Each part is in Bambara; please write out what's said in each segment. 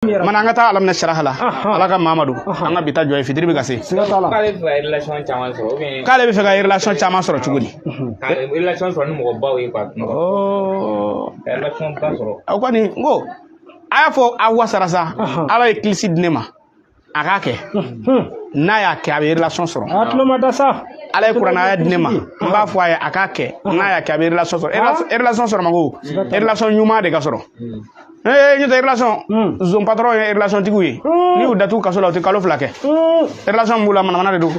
mana an ka taa alamina siraha la ala ka mamadu an ka bi ta jɔ yen fitiri bɛ ka se k'ale bɛ fɛ ka relation caman sɔrɔ ou bien k'ale bɛ fɛ ka relation caman sɔrɔ cogo di ka relation sɔrɔ ni mɔgɔ baw ye quoi ka relation ba sɔrɔ aw kɔni n ko a y'a fɔ aw wasara sa ala ye kilisi di ne ma a k'a kɛ n'a y'a kɛ a bɛ relation sɔrɔ a tulo mada sa ala ye kuranɛ aya di ne ma n b'a fɔ a ye a k'a kɛ n'a y'a kɛ a bɛ relation sɔrɔ relation sɔrɔ man go relation ɲuman de ka sɔrɔ ne ye ɲɛtɛ relation hmm. zon patron ye relation tigiw ye hmm. n'i y'u datugu kaso la u tɛ kalo fila kɛ hmm. relation min b'u la manamana de don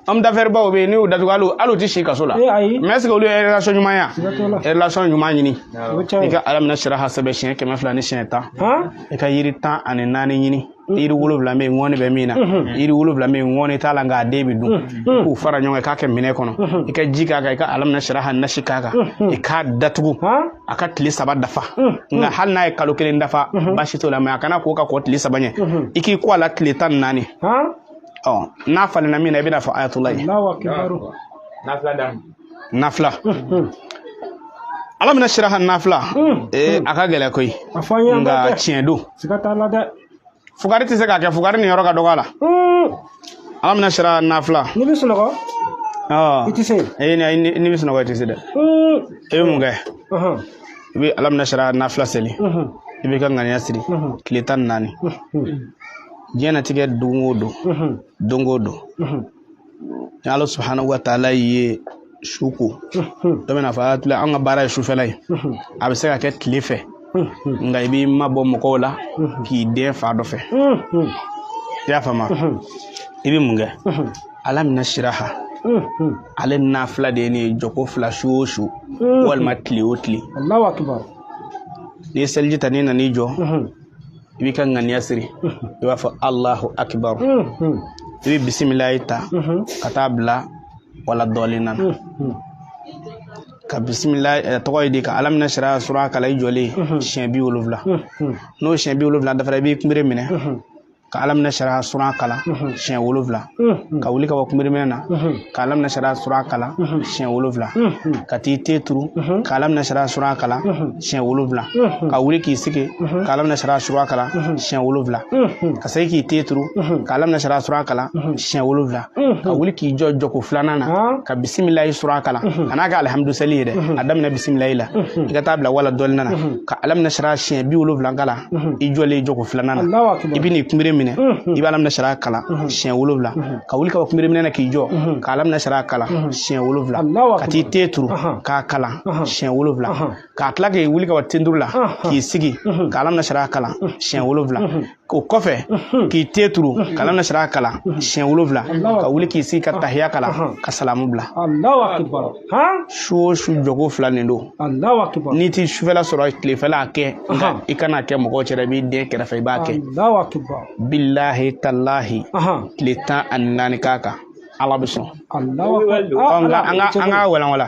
homme d'affaires baw bɛ yen n'i y'u datugu hali hali u tɛ si kaso la eh, mais est ce que olu ye relation ɲuman ye wa relation ɲuman ɲini i ka alamina siraha sɛbɛn siɲɛ kɛmɛ fila ni siɲɛ tan i ka yiri tan ani naani ɲini yiri wolowula min ŋɔni bɛ min na yiri wolowula min ŋɔni t'a la nka a den bɛ dun i k'u fara ɲɔgɔn kan i k'a kɛ minɛn kɔnɔ i ka ji k'a kan i ka alamina siraha nasi k'a kan i k'a datugu a ka tile saba dafa nka hali n'a ye kalo kelen dafa baasi t'o la mais a kana ko ka kɔn tile saba ɲɛ i k'i ko a la tile tan ni naani ɔ nafila min na i bɛna fɔ ayatula ye nafila alamina siraha nafila ee a ka gɛlɛn koyi nka tiɲɛ don fugari tɛ se k'a kɛ fugari niyɔrɔ ka dɔgɔ a la alamina siraha nafila n'i bɛ sunɔgɔ i tɛ se ee n'i bɛ sunɔgɔ i tɛ se dɛ i bɛ mun kɛ i bɛ alamina siraha nafila seli i b'i ka ŋaniya siri tile tan ni naani diɲɛnatigɛ don o don don o don ni ala subhanahu wa taala ye su ko dɔ bɛna fɔ tila an ka baara ye sufɛla ye a bɛ se ka kɛ tile fɛ nka i b'i mabɔ mɔgɔw la k'i dɛn fan dɔ fɛ i y'a faamu i bɛ mun kɛ alamina siraha ale nafila de ye nin ye jɔko fila su o su walima tile o tile n'i ye seliji ta n'i nan'i jɔ i b'i ka ŋaniya siri i b'a fɔ alahu akibaru i bɛ bisimilayi ta ka taa bila wala dɔlina na ka bisimilayi tɔgɔ ye di ka alamina siraha sura kalan i jɔlen siɲɛ bi wolonwula n'o siɲɛ bi wolonwula dafara i b'i kunbere minɛ ka alamina siraha sura kalan siɲɛ wolonwula ka wuli ka bɔ kunbereminɛ na ka alamina siraha sura kalan siɲɛ wolonwula ka t'i ten turu ka alamina siraha sura kalan siɲɛ wolonwula ka wuli k'i sigi ka alamina siraha sura kalan siɲɛ wolonwula ka segin k'i ten turu ka alamina siraha sura kalan siɲɛ wolonwula ka wuli k'i jɔ jɔko filanan na ka bisimilayi sura kalan a kana kɛ alihamudulilayi ye dɛ a daminɛ bisimilayi la i ka taa bila wala dɔlina na ka alam nasara siɲɛ bi wolonwula kalan mhm. i jɔlen jɔko filanan na i bɛ n'i kunbere minɛ mhm. i bɛ alam nasara kalan mhm. siɲɛ wolonwula ka wuli ka bɔ kunbere minɛ na k'i jɔ ka alam nasara kalan siɲɛ wolonwula ka t'i ten turu k'a kalan siɲɛ wolonwula ka tila k'i wuli ka bɔ ten turu la k'i sigi ka alam nasara kalan siɲɛ wolonwula o kɔfɛ k'i ten turu ka alam nasara kalan siɲɛ wolonwula ka wuli k'i sigi ka tahiya kalan ka salamu bila su o su jɔko fila nin don n'i tɛ sufɛla sɔrɔ tilefɛla a kɛ nka i kan'a kɛ mɔgɔw cɛla i b'i dɛn kɛrɛfɛ i b'a kɛ bilahi talahi tile tan ani naani k'a kan ala b'i sɔn an ka walawala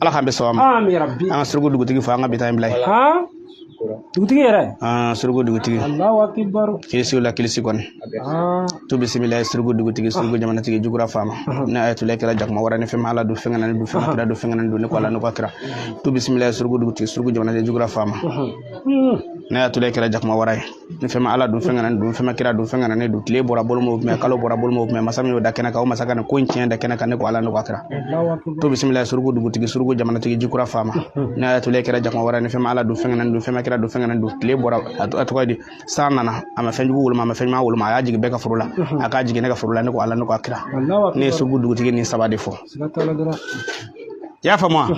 ala k'an bɛɛ sɔn ma an ka suruku dugutigi fɔ an ka bi ta in bila yen dugutigi yɛrɛ suruku dugutigi kilisi la kilisi kɔni tu bisimilahi suruku dugutigi suruku jamanatigi jugura faama ne a ye tula kɛra jakuma wara ni fɛn m'ala dun fɛn kana ne dun fɛn ma kira dun fɛn kana n dun ne ko ala ne ko a kira tu bisimilahi suruku dugutigi suruku jamanatigi jugura faama ne a tula kɛra jakuma wara ye ni fɛn m'ala dun fɛn kana n dun fɛn ma kira dun fɛn kana ne dun tile bɔra bolo m'o minɛ kalo bɔra bolo m'o minɛ masa min y'o da kɛnɛ kan o masa ka ko in tiɲɛ da kɛnɛ kan ne ko ala ne ko a kira tu bisimila suruku dugutigi suruku jamanatigi jikura faama ne y'a tole kɛra jakuma wara ni fɛn m'ala dun fɛn kana n dun fɛn ma kira dun fɛn kana n dun tile bɔra a tɔgɔ di san nana a ma fɛn jugu woloma a ma fɛn ɲuman woloma a y'a jigin bɛɛ ka foro la a k'a jigin ne ka foro la ne ko ala ne ko a kira ne ye suruku dugutigi nin saba de fɔ i y'a faamu wa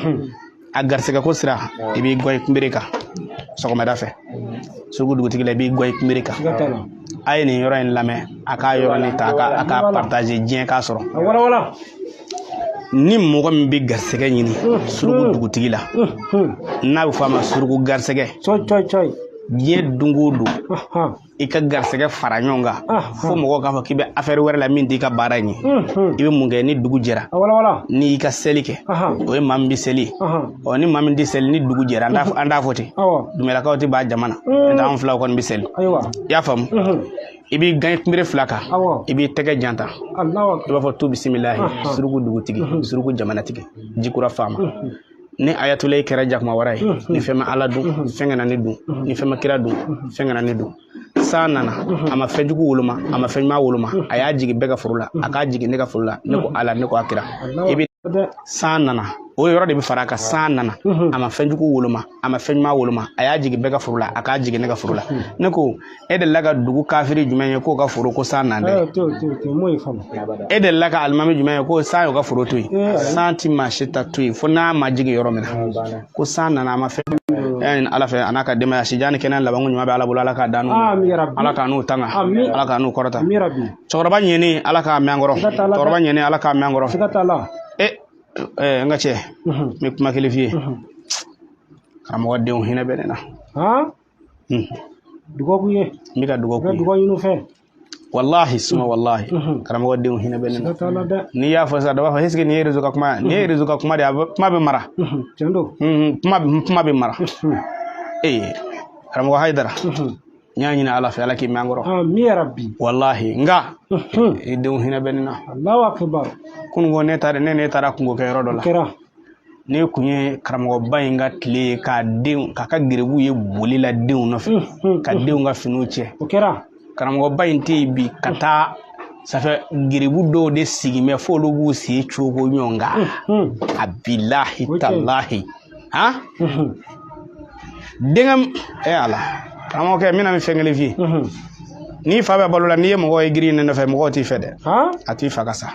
a garisɛgɛko sira i b'i gɔn i kunbere kan sɔgɔmada fɛ suruku dugutigi la i b'i gɔn i kunbere kan a ye nin yɔrɔ in lamɛn a ka yɔrɔ nin ta a k'a partager diɲɛ k'a sɔrɔ ni mɔgɔ min bɛ garisɛgɛ ɲini suruku dugutigi la n'a bɛ fɔ a ma suruku garisɛgɛ diɲɛ don o don i ka garisɛgɛ fara ɲɔgɔn kan fo mɔgɔw k'a fɔ k'i bɛ affaire wɛrɛ la min t'i ka baara in ye i bɛ mun kɛ ni dugu jɛra n'i y'i ka seli kɛ o ye maa min bɛ seli ɔ ni maa min tɛ seli ni dugu jɛra an t'a fɔ ten dumelakaw tɛ b'a jamana n'o tɛ anw filaw kɔni bɛ seli i y'a faamu i b'i gan kunbere fila kan i b'i tɛgɛ janta i b'a fɔ tu bisimilahi suruku dugutigi suruku jamanatigi jikura faama ni ayatula ye kɛra jakuma wara ye ni fɛn ma ala dun fɛn kana ne dun ni fɛn ma kira dun fɛn kana ne dun san nana a ma fɛn jugu woloma a ma fɛn ɲuman woloma a y'a jigin bɛɛ ka foro la a k'a jigin ne ka foro la ne ko ala ne ko a kira i bɛ san nana o yɔrɔ de bɛ fara a kan san nana a ma fɛn jugu woloma a ma fɛn ɲuman woloma a y'a jigin bɛɛ ka foro la a k'a jigin ne ka foro la ne ko e delila ka dugu kafiri jumɛn ye k'o ka foro ko san nan dɛ e delila ka alimami jumɛn ye ko san y'o ka foro to yen eh, san ti maa si ta to yen fo n'a ma jigin yɔrɔ min na ko san nana a ma fɛn ɲini ala fɛ a n'a ka denbaya sijan ni kɛnɛ labanko ɲuman bɛ ala bolo ala k'a d'an n'u ala k'an n'u tanga ala k'an n'u kɔrɔta cɛkɔrɔba in ala k'a mɛn an kɔrɔ cɛkɔrɔba in ala k'a mɛn an kɔrɔ e eh, n ka cɛ n bɛ kuma kelen f'i ye karamɔgɔ denw hinɛ bɛ ne na dugawu ye n bɛ ka dugawu ye dugawu ɲini i fɛ walahi suma walahi karamɔgɔ denw hinɛ bɛ ne na n'i y'a fɔ sisan dɔ b'a fɔ est-ce que nin ye rezo ka kuma ye nin ye rezo ka kuma de ye a bɛ kuma bɛ mara tiɲɛ don kuma bɛ kuma bɛ mara ee karamɔgɔ hayidara n y'a ɲini ala fɛ ala k'i mɛn an kɔrɔ amin ya rabi walahi nka i denw hinɛ bɛ ne na alahu akibaru kununko ne taara ne ne taara kungo kɛ yɔrɔ dɔ la kɛra ne kun ye karamɔgɔba in ka tile ye k'a denw k'a ka gerebu ye boli la denw nɔfɛ ka denw ka finiw cɛ o kɛra karamɔgɔba in tɛ yen bi ka taa safɛ gerebu dɔw de sigi mɛ f'olu b'u sen cogo ɲɔgɔn kan a bilahi talahi han denkɛ e eh, ala karamɔgɔkɛ n bɛna nin fɛn kelen f'i ye mhm. n'i fa bɛ balo la n'i ye mɔgɔ ye girinnen i nɔfɛ mɔgɔw t'i fɛ dɛ a t'i fa ka sa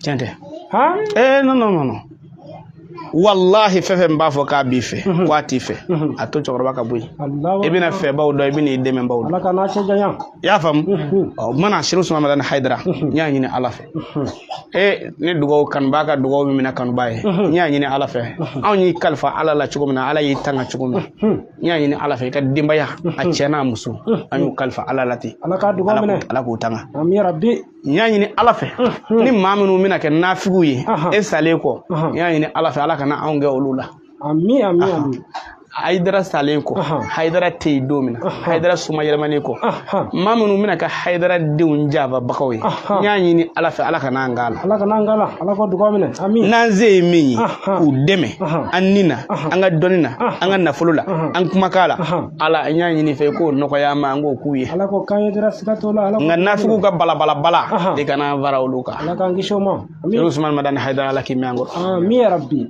tiɲɛ tɛ ee non non non walahi fɛn fɛn b'a fɔ k'a b'i fɛ mhm. k'a t'i fɛ mhm. a to cɛkɔrɔba ka bɔ yen i bɛna fɛbaw dɔn i bɛna i dɛmɛbaw dɔn i y'a faamu ɔ mana sɛrifu usumani madani hayidara n y'a ɲini ala fɛ e ni dugawu kanubaa ka dugawu min minɛ kanubaa ye n y'a ɲini ala fɛ anw y'i kalifa ala la cogo min na ala y'i tanga cogo min na n y'a ɲini ala fɛ i ka denbaya a cɛ n'a muso an y'u kalifa ala la ten ala k'a dugawu minɛ ala k'u tanga n y'a ɲini ala fɛ ni maa minnu bɛna kɛ nafigiw ye e salen kɔ n y'a ɲini ala fɛ ala kana anw kɛ olu la ami ami ami haidara salen kɔ haidara tɛ yen don min na haidara somayɛlɛmanen kɔ maa minnu bɛna kɛ haidara denw janfabagaw ye n y'a ɲini ala fɛ ala kan'an k'a la ala kan'an k'a la ala ka dugawu minɛ ami n'an se ye min ye k'u dɛmɛ an ni na an ka dɔnni na an ka nafolo la an kumakan la ala n y'a ɲini i fɛ i k'o nɔgɔya an ma an k'o k'u ye ala k'o k'an ye dara siga t'o la ala nka nafigiw ka balabalabala i kana an fara olu kan ala k'an kisi o ma usumani madani haidara ala k'i mɛn an kɔrɔ ami yarabi